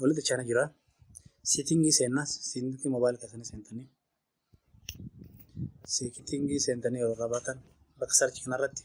Walitti cina jira. Siitingii seenna. Siitingii moobaayila keessanii seentanii. Siitingii seentanii yeroo irraa baatan bakka sarchii kanarratti.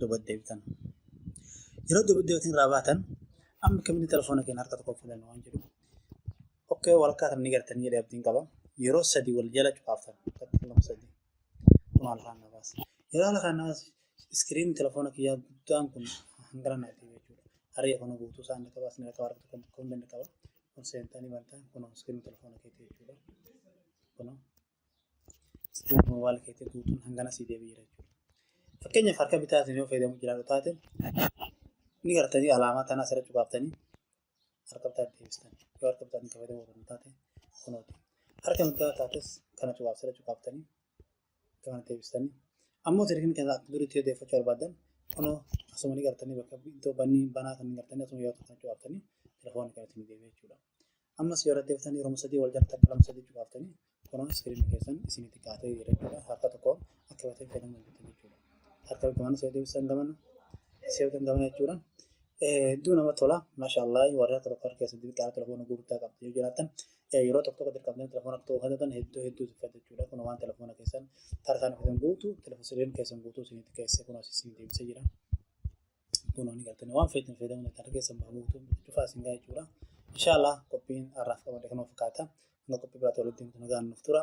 duubatti deebitan. Yeroo duubatti deebitan irraa baatan amma kamitti telefoona keenya harka tokko filannu waan jedhu. Okkee walakkaa kan ni gartanii jedhee abdiin qaba. Yeroo sadii wal jala cufaaftan. Maal kaan na baasa. Yeroo ala kaan na baasa iskiriin telefoona kiyyaa guddaan kun hangana naaf ta'e jechuudha. Haree kana guutuu isaan ni qaba, isin qaba, harka tokko tokko ni qaba. Kun seentanii bantaan kun iskiriin telefoona keetii jechuudha. Kun Ispiriit moobaayila keetti guutuun hangana sii deebi'eera jechuudha. Fakkeenyaaf harka bitaatiin yoo fayyadamu jiraatu taate ni gartanii alaamaa tanaa asirratti cuqaaftanii harka bitaa deebistan yoo harka bitaatiin kan fayyadamu barbaaddan taate kunooti. Harka mirgaa taates kana cuqaaf asirratti cuqaaftanii kana deebistanii ammoo sirriin kan akka duriitti yoo deeffachuu barbaaddan kunoo asuma ni gartanii bakka iddoo bannii banaa kan gartanii asuma yoo ta'an cuqaaftanii telefoonni kan isin deebi'e jechuudha. Ammas yoo irratti eebbiftan yeroo sadii wal jala takka lama sadii cufaaftanii kunuun iskiriinii keessan isinitti kaatee jira jechuudha. Harka tokko akka batee fayyadamu hojjetu jechuudha. Harka gamana soo deebisan gamana seetan gamana jechuudha. Hedduu nama tola. Maashaallah warri harka tokko harka keessan xixiqqaa telefoona gurguddaa qabdu yoo jiraatan yeroo tokko tokko dirqamtanii telefoona tokko fayyadatan hedduu hedduu tuffatu jechuudha. Kun waan telefoona keessan harkaan keessan guutuu telefoon keessan guutuu isinitti keessee kunuun isin deebisee jira. kunoo ni galtanii waan feetan fayyadamuun ni taata keessan baa guutuu cufaa isin gaa jechuudha. Inshaallah qophiin har'aaf qabate kanuma fakkaata. Hanga qophii biraatti walitti himtu nagaan nuuf tura.